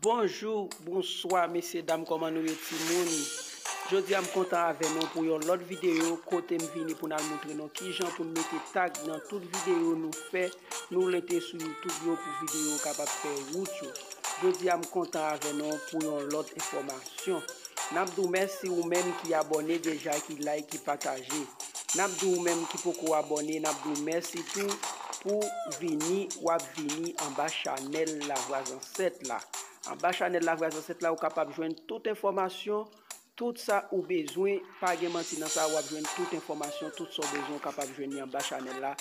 Bonjou, bonswa mesye dam kòman nou ye timoun Jodi a m kontan avè nou pou yon lòt videyo kote m vini pou n al moutre nou kijan pou n mete tag nan tout videyo nou fè Nou rete sou YouTube yo pou video kapab fè wout yo. Jodia m kontan avè non pou yon lòt enfòmasyon. Nap di w mèsi ou menm ki abòne deja ki like ki pataje. Nap di w menm ki poko abòne nap di w mèsi tou pou vini wap vini anba chanèl lavwa zansèt la. Anba chanèl lavwa zansèt la ou kapab jwenn tout enfòmasyon. Tout sa ou bezwen, pa gen manti nan sa wap jwenn tout enfòmasyon tout sa w bezwen ou kapab jwenn li anba chanèl la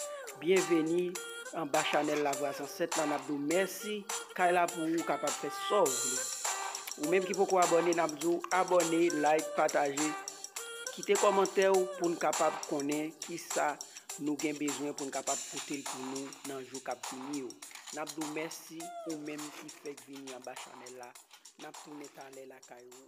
byenveni anba chanèl lavwa zansèt la nap di w mèsi kay la pou ou kapab fè sa w vle ou menm ki poko abòne nap di w abòne like pataje kite kòmantè w pou n kapab konnen kisa nou gen bezwen pou n kapab pote l pou nou nan jou kap vini yo nap di w mèsi ou menm ki fèk vini anba chanèl la nap tounen talè lakay ou.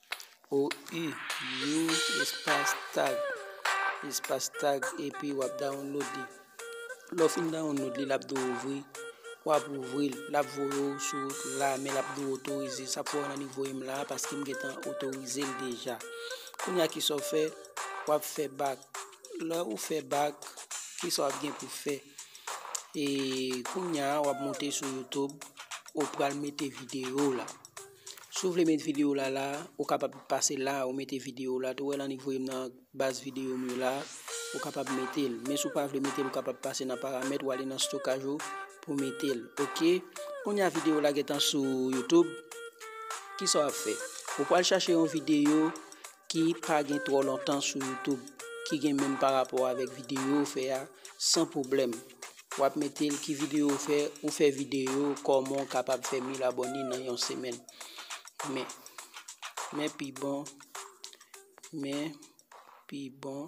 O U Yo espas tag espas tag epi wap download li lè w fin download li lap di w ouvri wap ouvri l lap voye w sou wout la men lap di w otorize sa pou w wè nan li voye m la paske m gentan otorize l deja kounya kisa w fè wap fè bak lè ou fè bak kisa wap gen pou fè e kounya wap monte sou youtube ou pral mete videyo w la. Si w vle met video la la, ou kapab pase la ou mete video la tou, ou wè lan li voye m nan baz video m yo la, ou kapab mete l, men si w pa vle mete l ou kapab pase nan paramèt ou ale nan stokaj ou pou mete l ok, kounya video la gentan sou youtube, kisa w ap fè ou pwal chache yon video. ki pa gen twò lontan sou YouTube ki gen menm pa rapò avèk videyo ou fè a san pwoblèm. Wap mete l ki videyo ou fè, ou fè videyo kòman ou kapab fè 1000 abòne nan yon semèn. Men, men pi bon, men pi bon.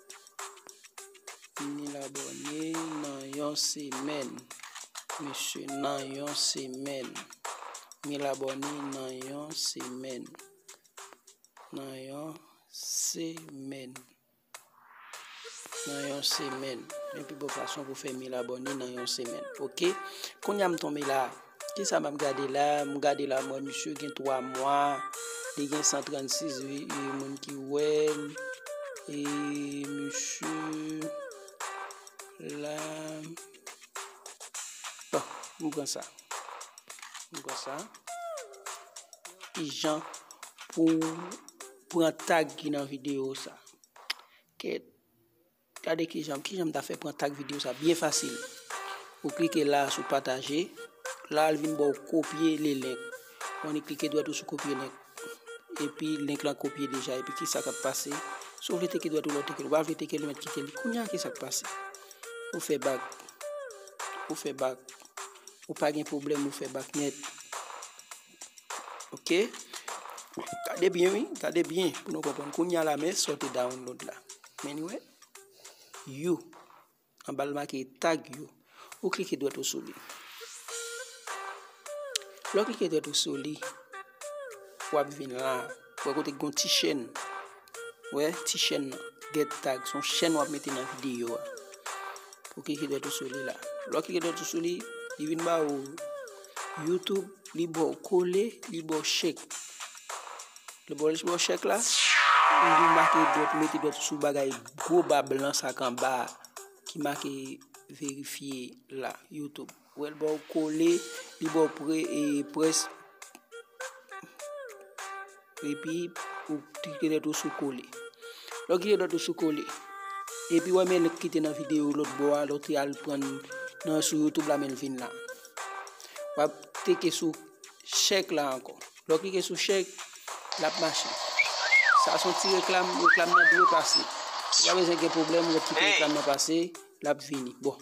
Mil abòne nan yon semèn. Mesye nan yon semèn. Mil abòne nan yon semèn. Nan yon semèn. Nan yon semèn. Mwen pi bon fason pou fè mil abòne nan yon semèn. Ok. Kounye a m tonbe la. Kisa map gade la, m gade la mwen misye gen 3 mwa, li gen 136 vye moun ki wèl, e misye la, bon, m pran sa, m pran sa, ki jan pou pran tag ki nan video sa, kèt, Gade kijanm kijanm ta fè pran tag video sa byen fasil ou klike la sou pataje la al vin baw kopye le link on e klike dwèt ou sou kopye link epi link lan kopye deja epi ki sa kap pase sou vle teke dwèt ou lò teke ou pa vle teke li met kite li kounya ki sa k pase ou fè bak ou fè bak ou pa gen problem ou fè bak net ok gade byen wi gade byen pou nou konprann kounya la men sa w te download la men nou wè you anba l make tag you ou klike dwèt ou sou li lè w klike dwèt ou sou li w ap vin la Wè kote ki gon ti chèn. Wè ti chèn nan. Get tag. Son chèn wap mete nan videyo a. Ou klike dwèt ou sou li la. Lò klike dwèt ou sou li, li vin ba ou YouTube, li bo kole, li bo chèk. Li bo li bo chèk la. Ou vin make dwèt, mete dwèt sou bagay gwo ba blan sa kan ba ki make verifye la YouTube. Wèl baw kole li baw pre e pres epi ou klike lèt ou sou kole lèw klike lèt ou sou kole epi wè men lèt kite nan video lòt bò a lèw te al prann nan sou youtube la menl vin la wap klike sou chèk la ankò lèw klike sou chèk lap mache sa son ti reklam reklam nan dwe pase ou pa bezwen gen pwoblèm lèt kite reklam nan pase lap vini bon.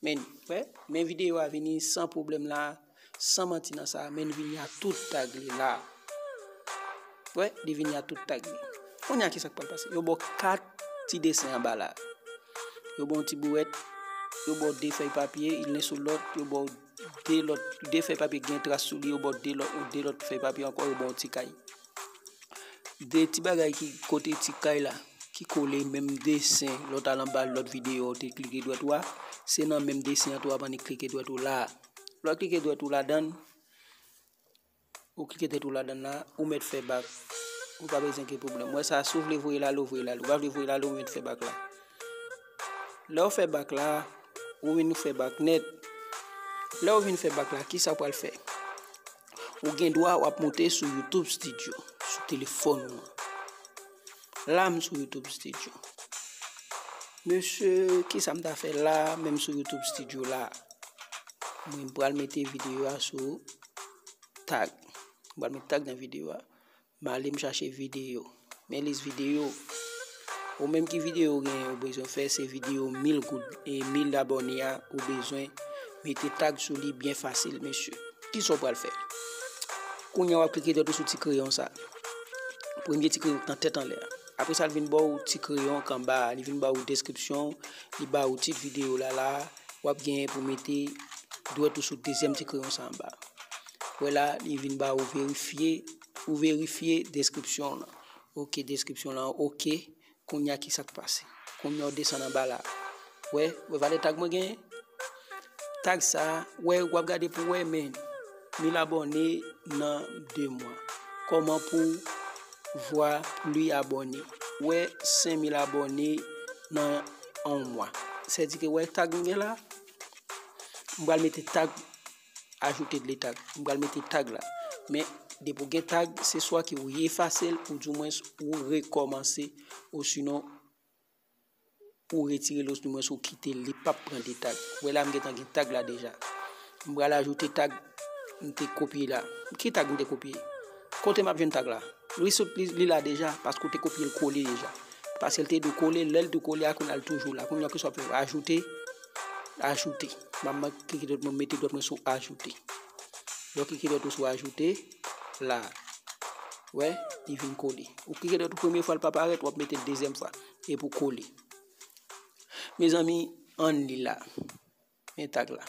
Men wè men video a vini san pwoblèm la san manti nan sa men li vini a tout tag li la wè li vini a tout tag li konya kisak pral pase yo baw 4 ti desen anba la yo baw ti bouwèt yo baw 2 fèy papye youn men sou lòt yo baw 2 lòt 2 fèy papye ki gen tras sou li yo baw 2 lòt fèy papye ankò yo baw ti kay. 2 ti bagay ki kote ti kay la ki kole menm desen lò ta l anba lòt videyo ou te klike dwèt ou a se nan menm desen an tou avan ni klike dwèt ou la lò klike dwèt ou ladan l ou klike dwèt ou ladan l la ou mèt fè bak ou pa bezwen gen pwoblèm wè sa si ou vle voye l ale ou voye l ale ou pa vle voye l ale ou mèt fè bak la lè ou fè bak la ou vin fè bak nèt lè ou vin fè bak la kisa ou pral fè Ou gen dwa wap monte sou YouTube Studio sou telefon ou. La m sou YouTube Studio. Mesye, ki sa m ta fè la menm sou YouTube Studio la? Mwen pral mete video a sou tag. Mwen pral mete tag nan video a. Male m chache video. Men lis video. Ou menm ki video ou gen ou bezwen fè se video 1000 goud. E 1000 abone a ou bezwen mete tag sou li byen fasil mesye. Ki sa ou pral fè? Kounye wap klike dèt ou sou ti kreyon sa. Premye ti kreyon nan tèt anlè. Apre sa l vin ba ou ti kreyon kan ba. Li vin ba ou deskripsyon. Li ba ou tit video la la. Wap gen pou mete dwèt ou sou dezyèm ti kreyon sa anba. wè la li vin ba ou verifye ou verifye deskripsyon lan ok deskripsyon lan ok konya ki sak pase konya ou desan nan bala wè wè vale tag mwen gen tag sa wè wap gade pou wè men ni la bonne nan 2 mwa koman pou vwa li abone wè 5000 abone nan 1 mwa se di ke wè tag mwen gen la mwen mete tag Ajoute de tag. M pral mete tag la. Men, depi ou gen tag, se swa ke ou efase l ou di mwens ou rekòmanse ou sinon ou retire l ou di mwens ou kite l, li pap pran de tag. Wè la m gen tan gen tag la deja. M pral ajoute tag m te kopye la. Ki tag m te kopye? Kote m ap jwenn tag la? Li sot li la deja paske ou te kopye l kole deja. Paske l te dwe kole, lè l te kole a kounye a l toujou la. Kounye a ki sa w ap fè? Ajoute. Ajoute. Mwen mwen klike dot mwen mete dot mwen sou ajoute. Lè w klike dot ou sou ajoute, la, wè, li vin kole. Ou klike dot ou premye fwa l pa parèt, wap mete l dezyèm fwa, epi ou kole. Mezanmi, an li la. Men tag la.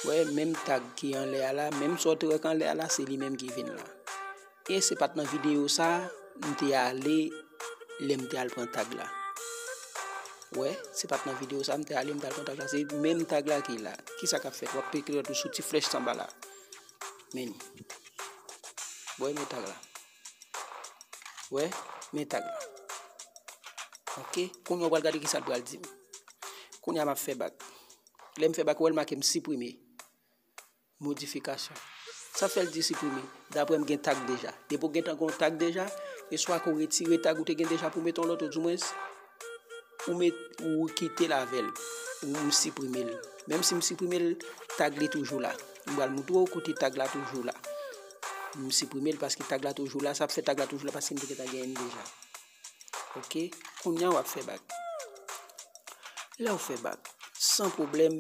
Wè, menm tag ki anlè a la, menm sa w te wè ki anlè a la, se li menm ki vin la. E se pat nan video sa m te ale lè m te al pran tag la. Wè, se pat nan video sa m te ale m te al pran tag la. Se menm tag la ki la. Ki sa k ap fèt? Wap peye kredi tou sou ti flèch sa anba la. Men li. Wè men tag la. Wè, men tag la. Ok, koun yo pral gade ki sa l pral di m. Koun ya m ap fè bak. Lè m fè bak wè l make m siprime. Modifikasyon. Sa fè l di siprime. Dapre m gen tag deja. Depi w gentan gen yon tag deja, e swa ke w retire tag ou te gen deja pou w mete yon lòt ou dimwens ou met, ou kite l avè l. Ou m siprime l. Menm si m siprime l, tag li toujou la. M pral montre w kote tag la toujou la. M siprime l paske tag la toujou la. Sa fè tag la toujou la paske m te gentan gen l deja. ok kounya wap fè bak lèw fè bak san problèm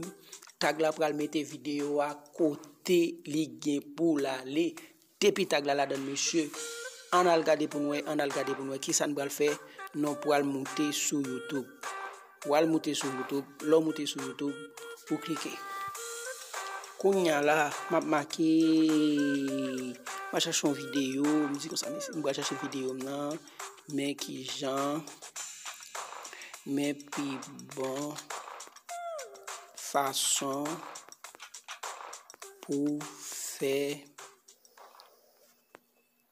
tag la pral mete video a kote li gen pou lale depi tag la ladann mesye ann al gade poun wè ann al gade poun wè kisa nou pral fè nou pral moute sou youtube. Ou al moute sou YouTube, lè w moute sou YouTube, ou klike. Kounya la, m ap make, m ap chache yon videyo, m di konsa mesi, m pral chache videyo m nan, men ki jan, men pi bon fason pou fè.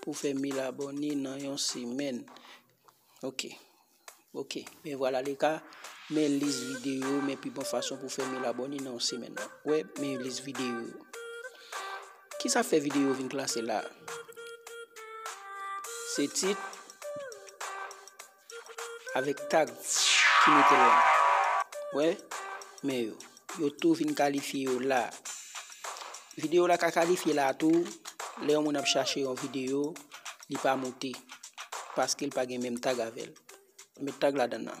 pou fè 1000 abòne nan yon semèn ok ok men vwala le ka men lis videyo men pi bon fason pou fè 1000 abòne nan yon semèn wè men lis videyo ki sa fè videyo vin klase la se tit avèk tag ki mete la wè men yo yo tou vin kalifye yo la video la ka kalifye la tou lè yon moun ap chache yon video li pa moute paske l pa gen menm tag avèl met tag la dan nan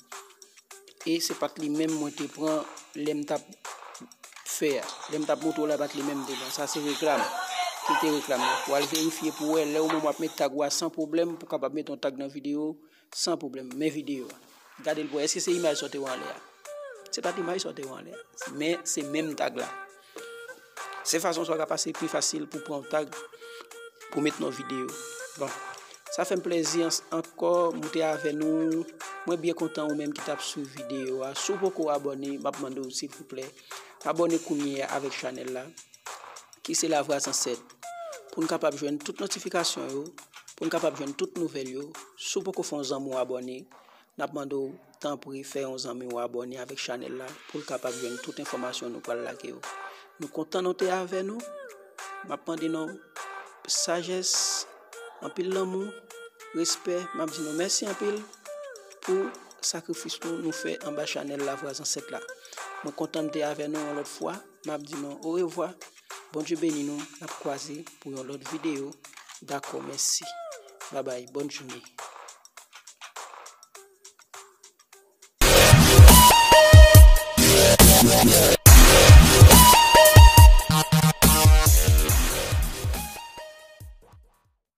e se pat li menm mwen te pran lè m tap fè a, lè m tap montre w la e pat li menm m te pran, sa se reklam, ki te reklam nan, wal verifye pou wè lè ou menm wap met tag ou a san pwoblèm, pou kapab met yon tag nan videyo ou san pwoblèm, men videyo a, gade l pou wè èske se imaj sa w te wè anlè a, se pat imaj sa w te wè anlè a, men se menm tag la. Se fason sa w ka pase pi fasil pou pran tag pou met nou videyo. Bon, sa fè m plezi ankò moute avè nou. Mwen byen kontan ou menm ki tap sou videyo a. Sou poko abone, m ap mande ou si pou plè. Abone kounye a avèk chanèl la. Ki se la vwa zansèt. Pou n kapab jwenn tout notifikasyon yo. Pou n kapab jwenn tout nouvèl yo. Sou poko fon zanm ou abone. Nap mande w tanpri fè yon zanmi w abòne avèk chanèl la pou l kapab jwenn tout enfòmasyon nou pral lage yo. Nou kontan nou te avè nou. Map mande nou sajès, anpil lanmou, respè. Map di nou mèsi anpil pou sakrifis nou nou fè anba chanèl Lavwa Zansèt la. Mwen kontan m te avè nou yon lòt fwa. Map di nou orevwa Bondye beni nou nap kwaze pou yon lòt video dakò mèsi babay bòn jounen.